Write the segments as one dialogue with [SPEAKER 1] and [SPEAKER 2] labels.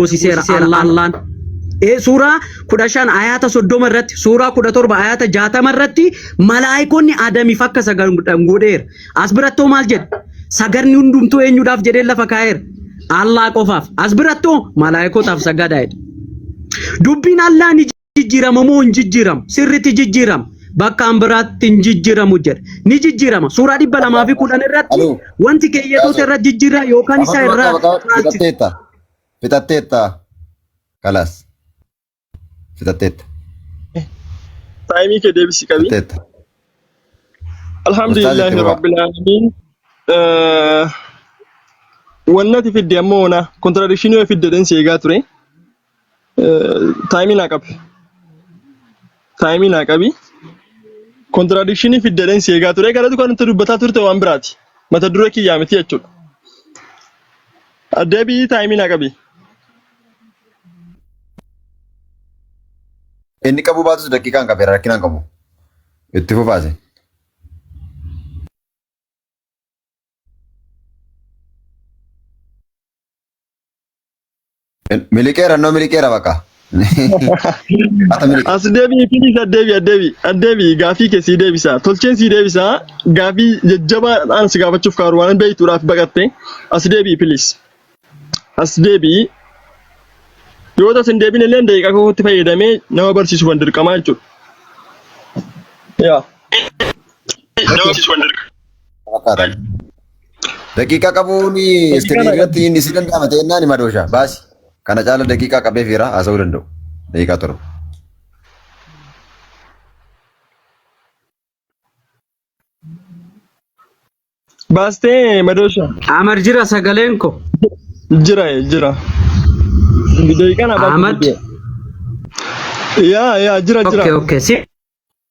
[SPEAKER 1] hoosiseera Allaan. Ee suuraa kudha shan ayaata soddoma irratti suuraa kudha torba ayaata jaatama irratti malaayikonni Adamiif akka sagadan godheera. As birattoo maal jedhe? Sagadni hundumtuu eenyuudhaaf jedhee lafa kaa'eera. Allaa qofaaf. As birattoo malaayikotaaf sagadaa jedhe. Dubbiin Allaa ni jijjiirama moo hin jijjiiramu sirriitti jijjiirama bakkaan biraatti hin jijjiiramu jedha ni jijjiirama suuraa dhibba lamaa fi kudhan irratti Aluu. wanti keeyyatoota irra jijjiirraa yookaan isaa irraa caalchisa Fixatteetta. Fixatteetta.
[SPEAKER 2] Kalaas. Fixatteetta.
[SPEAKER 3] Taayimii kee deebisii qabii. Fixatteetta. Alhamdulillahi Ustaazi Kibbaa. Rabbil Aalamiin. Eh, Wannati fidde ammoo ona kontiradikshinii yoo fidde dhensi eegaa ture. Taayimii naa qabi. Taayimii naa qabi. Kontiraakshinii fiddeen si eegaa ture. Kanatu kan nuti dubbataa turte waan biraati. Mata duree kiyyaa miti jechuudha. Deebii taayimii naa qabi.
[SPEAKER 2] Inni qabu baatus daqiiqaan qabeera rakkinaan qabu. Itti fufaase. Miliqeera noo miliqeera bakka. Ata miliqe.
[SPEAKER 3] As deebi'i please addeebi addeebi addeebi gaafii kee sii deebisaa tolcheen sii deebisaa gaafii jajjabaa dhaan si gaafachuuf kaaru waan beektuudhaaf baqatte as deebi'i please as deebi'i yoo tas hin deebine illee daqiiqaa kootti fayyadamee nama barsiisu kan dirqamaa jechuudha. Yaa. Okay.
[SPEAKER 2] Daqiiqaa qabuun iskiriinii irratti inni si danda'ama ta'e innaan hima dooshaa baasi. Kana caala daqiiqaa qabee fiira haasa'uu danda'u. Daqiiqaa torba.
[SPEAKER 3] Baastee madoosha. Amar jira
[SPEAKER 1] sagaleen ko. Jira
[SPEAKER 3] jira. Daqiiqaan abaa. Ahmad.
[SPEAKER 1] Yaa
[SPEAKER 3] yaa jira jira. Okay okay. Si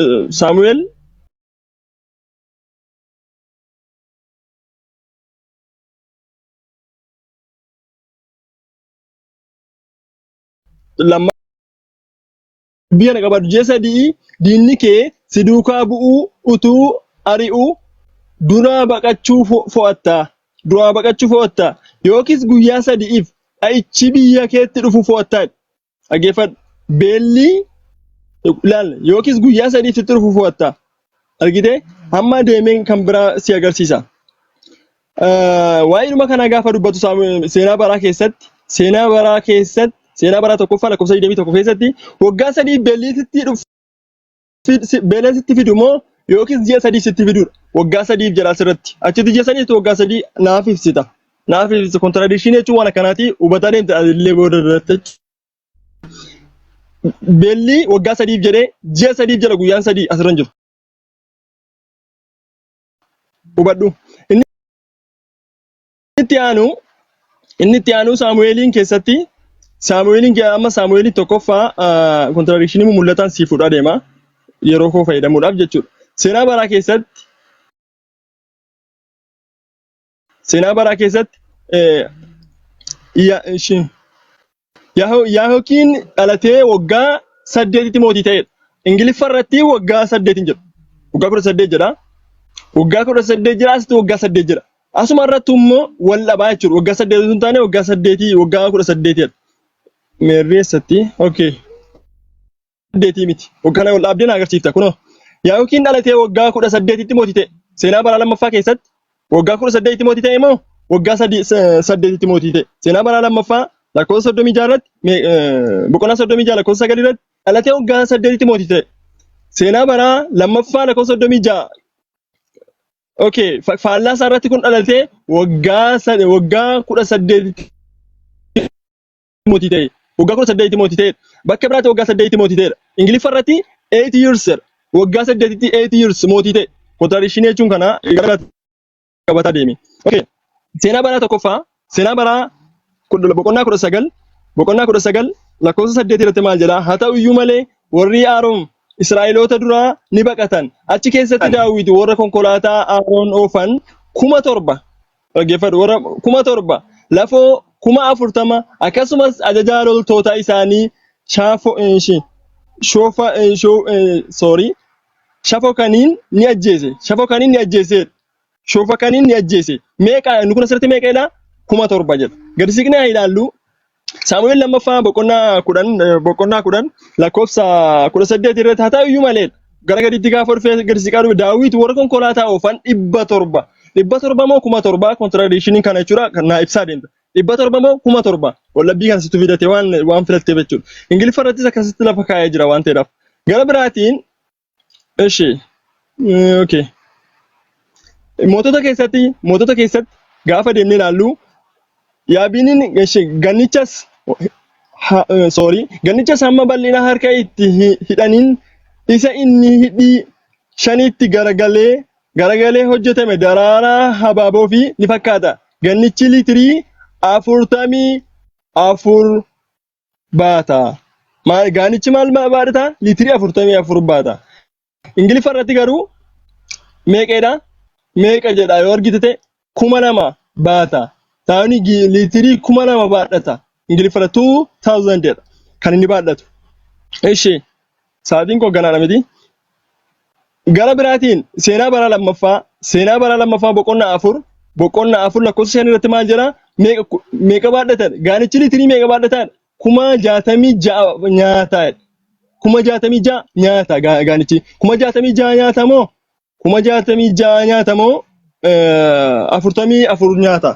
[SPEAKER 3] Uh, Samuel, lamma biyya na qabadu ji'a sadii diinni kee si duukaa bu'uu utuu ari'uu duraa baqachuu fo- fo'atta. Duraa baqachuu fo'atta. Yookiis guyyaa sadi'iif dha'ichi biyya keetti dhufu fo'atta. Dhaggeeffadhu. Beelli ilaal yookiis guyyaa sadiif sitti dhufu fo'atta. Argitee? Hamma deemeen kan biraa si agarsiisa. Eh, Waa'eedhuma kanaa gaafa dubbatu Saamu- seenaa baraa keessatti seenaa baraa keessatti seenaa baraa tokkoffaa lakkoofsa 21 keessatti waggaa sadii beelli sitti dhufa. si- si- beeleen sitti fidu moo yookiis ji'a sadii sitti fidudha. Waggaa sadiif jedha asirratti. Achitti ji'a sadiitti waggaa sadii naaf ibsita. Naaf ibsita. Kontiradikshinii jechuun waan akkanaatii hubataa deemte illee booda irratti. Beelli waggaa sadiif jedhee ji'a sadiif jedha guyyaan sadii asirra hin jiru. Hubadhu. Inni Inni itti aanu inni itti aanu Saamu'eeliin keessatti Saamu'eeliin ke- amma Saamu'eeliin tokkoffaa kontiraakshinii mul'ataan sii fudhaa deema yeroo koo fayyadamuudhaaf jechuudha. Seenaa baraa keessatti seenaa baraa keessatti eh, ya- shi- Yaho- Yaahokiin dhalatee waggaa saddeetitti mootii ta'edha. Ingiliffa irratti waggaa saddeet hin jedhu. Waggaa kudha saddeet jedha. Waggaa kudha saddeet jira asitti waggaa saddeet jira. Asuma irratti immoo wal dhabaa jechuudha. Waggaa saddeet osoo hin taane waggaa saddeetii waggaa kudha saddeetidha. Meerree eessatti? Okay. saddeetii miti. Kana ol dhaabdee na agarsiifta kunoo. Yaa'iqookiin dhalatee waggaa kudha saddeetitti mootii ta'e. Seenaa baraa lammaffaa keessatti waggaa kudha saddeetitti mootii ta'e moo waggaa sadii- sa- saddeetitti mootii ta'e. Seenaa baraa lammaffaa lakkoofsa soddomii jaha irratti mee- eh, boqonnaa soddomii jaha lakkoofsa sagal irratti dhalatee waggaa saddeetitti mootii ta'e. Seenaa baraa lammaffaa lakkoofsa soddomii jaha okay fa- faallaa isaa irratti kun dhalatee waggaa sad- waggaa kudha saddeetitti mootii ta'e. Waggaa kudha saddeetitti mootii ta'edha. Bakka biraatti waggaa saddeetitti mootii ta'edha. Ingiliffa irratti eight years jedha. Waggaa saddeetitti eight years mootii ta'e. Kontradikshinii jechuun kana gara biraatti qabataa deeme. Okay. Seenaa baraa tokkoffaa seenaa baraa kudha- boqonnaa kudha sagal boqonnaa kudha sagal lakkoofsa saddeet irratti maal jedha haa ta'u iyyuu malee warri Aaroon Israa'eloota duraa ni baqatan achi keessatti daawwiti warra konkolaataa Aaroon oofan kuma torba Dhaggeeffadhu warra kuma torba lafoo kuma afurtama akkasumas ajajaa loltoota isaanii shaafo eh, shi- shoofa eh, shoo eh, sorry shafo kaniin ni ajjeese shafo kaniin ni ajjeese shoofa kaniin ni ajjeese meeqa inni kun asirratti meeqa jedha kuma torba jedha gadi siqnee haa ilaallu Saamu'eel lammaffaa boqonnaa kudhan eh, boqonnaa kudhan lakkoofsa kudha saddeet irratti haa ta'u iyyuu malee gara gadiitti gaafa dhufee gadi siqaa dhufe daawwiti warra konkolaataa oofan dhibba torba dhibba torba moo kuma torba kontiraadeeshiniin kana jechuudha kan naa ibsaa deemta dhibba torba moo kuma torba wallabbii kan situ fidate waan waan filatteef jechuudha ingiliffa irrattis akkasitti lafa kaa'ee jira waan ta'eedhaaf gara biraatiin እሺ እ፣ ኦኬ mootota keessatti mootota keessatti gaafa deemnee ilaallu yaabiiniin eshi, gannichas ha, eh, sorry gannichas hamma bal'ina harka itti hi- hidhaniin isa inni hidhii shaniitti garagalee garagalee hojjetame daraaraa habaaboo fi ni fakkaata gannichi liitirii afurtamii afur baata. Maal gaanichi maal ma- baadhata? Liitirii afurtamii afur baata. Ingiliffa irratti garuu meeqeedha? Meeqa jedha yoo argite ta'e kuma lama baata. Taani gi- liitirii kuma lama baadhata. Ingiliffa irra 2000 jedha kan inni baadhatu. Ishee Sa'aatiin koo ganaadha miti. Gara biraatiin seenaa bara lammaffaa seenaa bara lammaffaa boqonnaa afur boqonnaa afur lakkoofsa shan irratti maal jedha meeqa ku- meeqa baadhatan gaanichi liitirii meeqa baadhatan kuma jaatamii ja'a nyaata kuma jaatamii ja'a nyaata gaa- gaanichi kuma jaatamii ja'a nyaata moo kuma jaatamii ja'a nyaata moo eh, afurtamii afur nyaata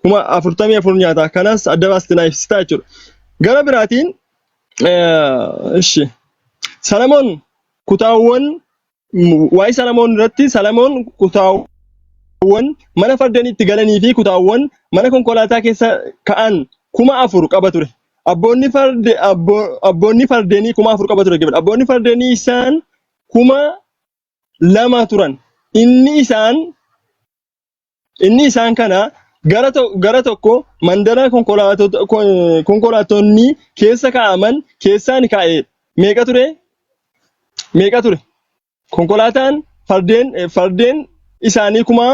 [SPEAKER 3] kuma afurtamii afur nyaata kanas adda baasti naaf ibsitaa jechuudha gara biraatiin eh, ishi salamoon kutaawwan m- waa'ee salamoon irratti salamoon kutaawwan kutaawwan mana fardaniitti galanii fi kutaawwan mana konkolaataa keessa ka'an kuma afur qaba ture. Abboonni farde abbo- abboonni fardeenii kuma afur qaba ture. Abboonni fardeenii isaan kuma lama turan. Inni isaan inni isaan kana gara to- gara tokko mandara konkolaatota- kon- konkolaattonni keessa kaa'aman keessaan kaa'e meeqa ture? Meeqa ture? Konkolaataan fardeen eh, fardeen isaanii kuma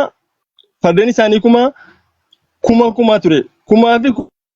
[SPEAKER 3] fardeen isaanii kuma kuma kuma ture. Kumaa fi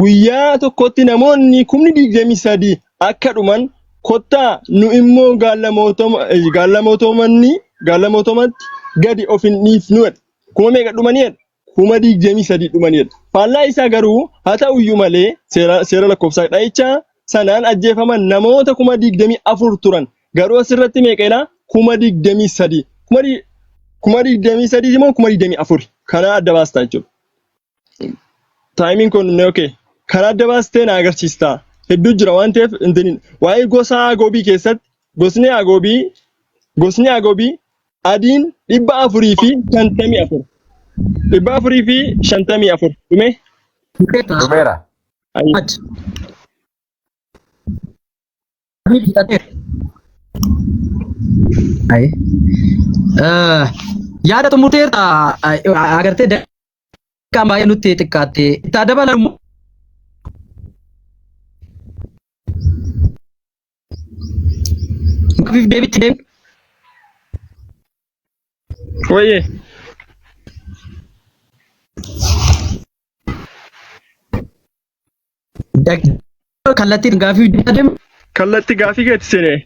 [SPEAKER 3] Guyyaa tokkotti namoonni kumni 23 akka dhuman, kottaa nu immoo gaallamootomatti gadi of hin dhiifnu jedha. Kuma meeqa dhumani jedha? Kuma 23 dhumani jedha. Faallaa isaa garuu haa ta'u iyyuu malee seera lakkoofsaa dha'icha sanaan ajjeefaman namoota kuma 24 turan. Garuu asirratti meeqa jedha? Kuma 23. Kuma 23 moo kuma 24? Kana adda baastaa jechuudha. Taayimiin kun ni okay. Karaa adda baastee na agarsiistaa. Hedduu jira waan ta'eef intinin waa'ee gosa agoobii keessatti gosni agoobii gosni agoobii adiin dhibba afurii fi shantamii afur. Dhibba afurii fi shantamii afur. Dhumee? Dhumeera.
[SPEAKER 2] Dhumeera. Ayi. Ad.
[SPEAKER 1] Yaada xumurteerta agartee daqiiqaan baay'ee nutti xiqqaatte. Itti dabalan immoo Mafiif deebitti deemu.
[SPEAKER 3] Wayye. Daqiiqaa kallattiin
[SPEAKER 1] gaafii hojjechaa
[SPEAKER 3] deema. Kallatti
[SPEAKER 1] gaafii keetti
[SPEAKER 3] seenee.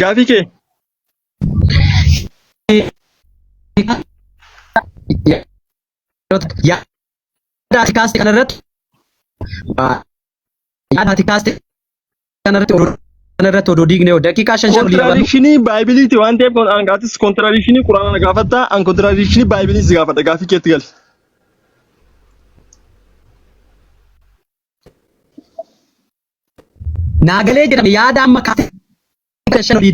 [SPEAKER 3] Gaafii kee.
[SPEAKER 1] Yaada ati kaaste kanarratti yaada ati kaaste kanarratti odoo kanarratti odoo diigne hoo daqiiqaa shan shan olii qabannu Kontiraakshinii baaybiliiti
[SPEAKER 3] waan ta'eef kun an gaatis kontiraakshinii quraana na gaafatta an kontiraakshinii baaybilii si gaafadha gaafii keetti gali.
[SPEAKER 1] naagalee jedhame yaada amma kaatee shan olii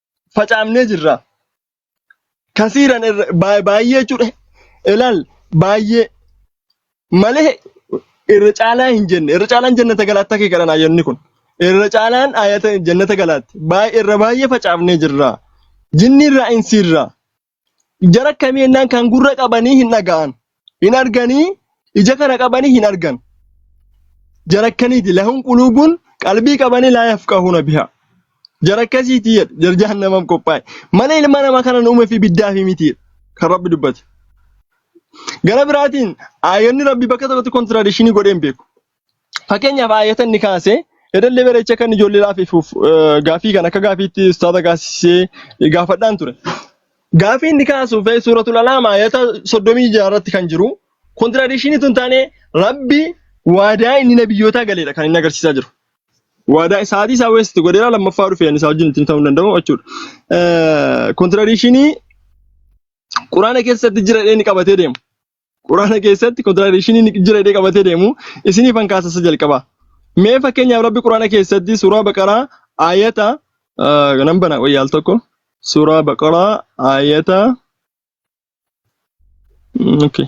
[SPEAKER 3] facaafnee jirra. Kasiiran irra baay- baay'ee jechuudha. Ilaal baay'ee malee irra caalaa hin jenne. Irra caalaan jannata galaatti akka kadhan ayyanni kun. Irra caalaan ayata jannata galaatti. Baay'ee irra baay'ee facaafnee jirra. Jinni irraa insi irraa. Jara akkamii jennaan kan gurra qabanii hin dhaga'an. Hin arganii ija kana qabanii hin argan. Jara akkaniiti lahum quluubun qalbii qabanii laa yafqahuuna bihaa. Jara akkasiiti jedhe jara jahannamaaf qophaa'e. Mana ilma namaa kana uumee fi biddaa fi miti jedhe kan rabbi dubbate. Gara biraatiin aayonni rabbi bakka tokkotti kontiraadishinii godhee hin beeku. Fakkeenyaaf aayata inni kaase yadallee bareecha kan ijoollee laafifuuf gaafii kan akka gaafiitti ustaaza gaasisee gaafadhaan ture. Gaafii inni kaasuuf suuratul alaam aayata 36 irratti kan jiru kontiradiishinii tun taane rabbi waadaa inni nabiyyootaa galeedha kan inni agarsiisaa jiru. Waadaa isaatii isaa weesiti godheera lammaffaa dhufee isaa wajjin ittiin ta'uu hin danda'u jechuudha. Kontiradiishinii quraana keessatti jira jedhee inni qabatee deemu. Quraana keessatti kontiraadeeshinii ni jira jedhee qabatee deemu isiniif an kaasasa jalqaba. Mee fakkeenyaaf rabbi quraana keessatti suuraa baqaraa aayata nan bana wayya al tokko suuraa baqaraa aayata okay.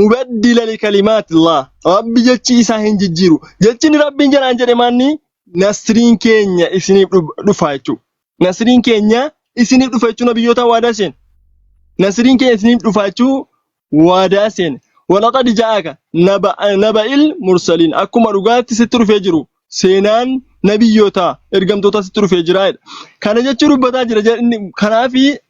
[SPEAKER 3] mubaddila likalimaatillaah rabbi jechi isaa hin jijjiiru jechini rabbiin jedhaan jedhe manni nasriin keenya isiniif dhuf- dhufa jechuu nasriin keenya isiniif dhufa jechuu nabiyyoota waadaa seen nasriin keenya isiniif dhufa jechuu waadaa seen walaqad ja'aka naba naba'il mursaliin akkuma dhugaatti sitti dhufee jiru seenaan nabiyyoota ergamtoota sitti dhufee jira jedha. kana jechuu dubbataa jira jedhe- inni- kanaafi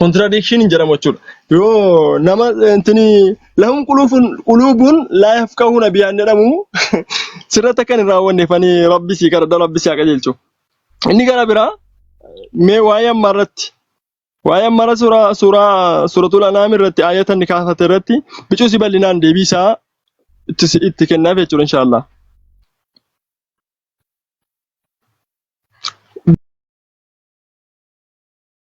[SPEAKER 3] contradiction hin jedhamu jechuudha. Yoo nama intini lahum quluufun quluubun laa yafqahuuna biyaan jedhamu sirratti akka hin raawwanne fani rabbi sii kadhadha rabbi sii haa qajeelchu. Inni gara biraa mee waa'ee ammaa irratti waa'ee ammaa irra suuraa suuraa suuratul anaam irratti aayata inni kaafate irratti bicuusi bal'inaan deebii isaa itti si- itti kennaaf jechuudha inshaallah.